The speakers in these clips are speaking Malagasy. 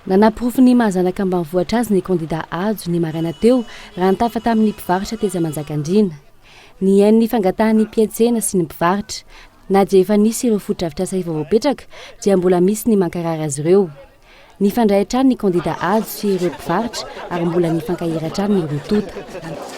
Nanaporofo ny maha zanaka ambanivohitra azy ny kandida Hajo, ny maraina teo, raha nitafa tamin'ny mpivarotra tetsy Manjakandriana. Nihaino ny fangatahan'ny mpiantsena sy ny mpivarotra. Na dia efa nisy ireo fotodrafitrasa efa voapetraka, dia mbola misy ny mankarary azy ireo. Nifandray hatrany ny kandida Hajo sy ireo mpivarotra ary mbola nifankahira hatrany ny roa tonta.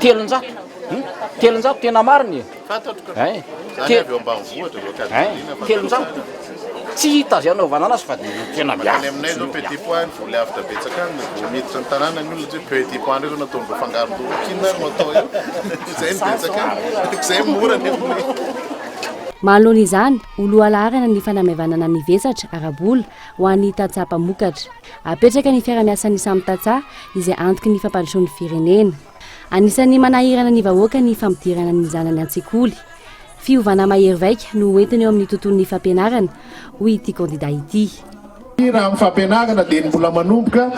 Telonjato Hum? Telonjato tena marina e. Fantatro ka. Hein? Zany Te- avy ao ambanivohitra zao Hein? Cadeline fa Telonjato. Tsy hita azy anaovana anazy fa dia tena Makany miafy. aminay zao petit pois any voly avo betsaka any vao miditra ny tanàna ny olona hoe petit pois ndray zao nataony vao fangaro ndorokin ary no atao eo izay no betsaka any izay no mora nefa Manoloana izany, ho lohalaharana ny fanamaivanana ny vesatra ara-bola ho an'ny tantsaha mpamokatra. Apetraka ny fiarahamiasan'ny samy tantsaha izay antoky ny fampandrosoan'ny firenena. Anisan'ny manahirana ny vahoaka ny fampidirana ny zanany an-tsekoly. Fiovana mahery vaika no hoentiny eo amin'ny tontolon'ny fampianarana, hoy ity kandida ity. Raha amin'ny fampianarana dia ny mbola manomboka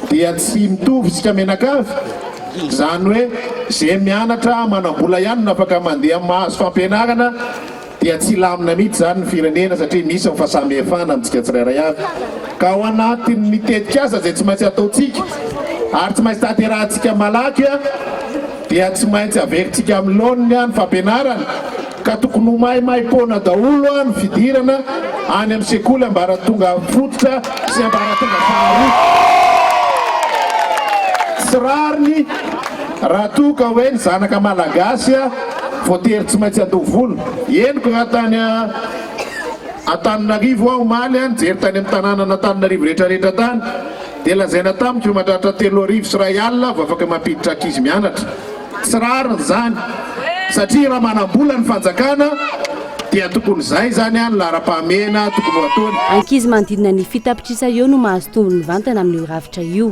dia tsy mitovy isika mianakavy, izany hoe izay mianatra manam-bola ihany no afaka mandeha mahazo fampianarana. dia tsy hilamina mihitsy izany ny firenena satria misy ny fahasamihefana amintsika tsirairay avy ka ao anatin'ny tetikasa izay tsy maintsy ataontsika ary tsy maintsy tanterahantsika malaky dia tsy maintsy averintsika amin'ny laoniny ny fampianarana ka tokony ho maimaim-poana daholo ny fidirana any amin'ny sekoly ambaratonga fototra sy ambaratonga faharoa tsy rariny raha toa ka hoe ny zanaka malagasy Voatery tsy maintsy handoa vola. Henoko raha tany Antananarivo aho omaly, nijery tany amin'ny tanànan'Antananarivo rehetrarehetra tany, dia lazaina tamiko fa mandratra telo arivo sy iray alina vao afaka mampiditra ankizy mianatra. Tsy rariny izany, satria raha manam-bola ny fanjakana dia tokony izay izany ny laharam-pahamehana tokony ho ataony. Ankizy manodidina ny fitapitrisany eo no mahazo tombony mivantana amin'io rafitra io.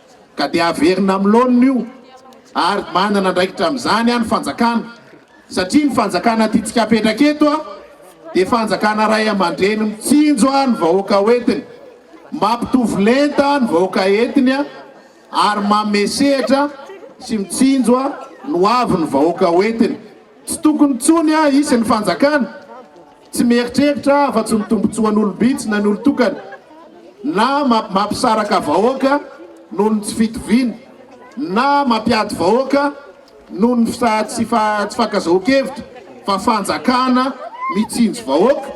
ka dia averina amin'ny laoniny io ary manana andraikitra amin'izany ny fanjakana satria ny fanjakana tiantsika apetraka eto dia fanjakana ray aman-dreny mitsinjo ny vahoaka hoentiny, mampitovy lenta ny vahoaka entiny ary manome sehatra sy mitsinjo ny hoavin'ny vahoaka hoentiny. Tsy tokony intsony hisy ny fanjakana. Tsy mieritreritra afa-tsy ny tombontsoan'olom-bitsy na ny olon-tokana na mampisaraka vahoaka noho ny tsy fitoviana na mampiady vahoaka noho ny tsy fankazahokevitra fa fanjakana mitsinjo vahoaka,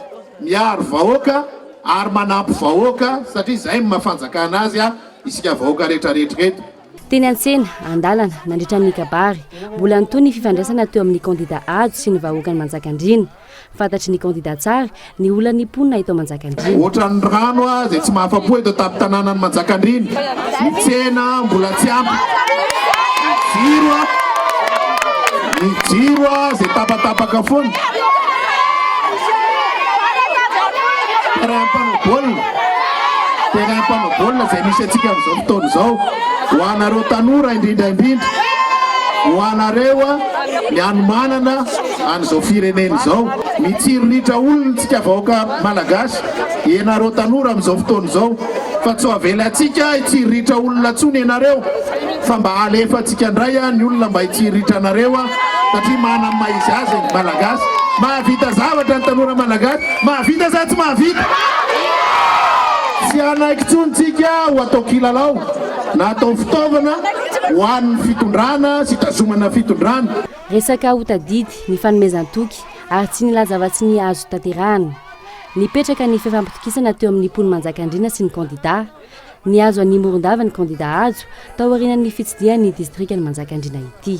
miaro vahoaka ary manampy vahoaka satria izay no maha fanjakana azy isika vahoaka rehetrarehetra eto. Teny an-tsena, an-dalana, nandritra ny kabary, mbola nitohy ny fifandraisana teo amin'ny kandida Hajo sy ny vahoakan'i Manjakandriana. Fantatry ny kandida tsara ny olan'ny mponina eto Manjakandriana. Ohatran'ny rano ah zay tsy mahafapo eto tampon-tananan'i Manjakandriana. Ny tsena mbola tsy ampy. Jiro ah, ny jiro ah zay tapatapaka foana. Terrain mpanao baolina, terrain mpanao baolina zay misy antsika amin'izao fotoana izao. Ho anareo tanora indrindra indrindra, ho anareo ah ny hanomanana. An'izao firenena izao. Mitsiriritra olona tsika vahoaka Malagasy. Ianareo tanora amin'izao fotoana izao. Fa tsy ho avelantsika hitsiriritra olona intsony ianareo. Fa mba alefa antsika indray ny olona mba hitsiriritra anareo an. Satria manana ny maha izy azy ny Malagasy. Mahavita zavatra ny tanora Malagasy. Mahavita sa tsy mahavita? Tsy hanaiky intsony tsika ho atao kilalao na atao fitaovana ho an'ny fitondrana sy hitazomana fitondrana. Resaka ho tadidy ny fanomezan-toky ary tsy nilaza afa-tsy ny azo tanterahana. Nipetraka ny fifampitokisana teo amin'ny mponin'i Manjakandriana sy ny kandidà. Nihazo an'i Morondava ny kandidà Hajo, taorianan'ny fitsidihany ny distrikan'i Manjakandriana ity.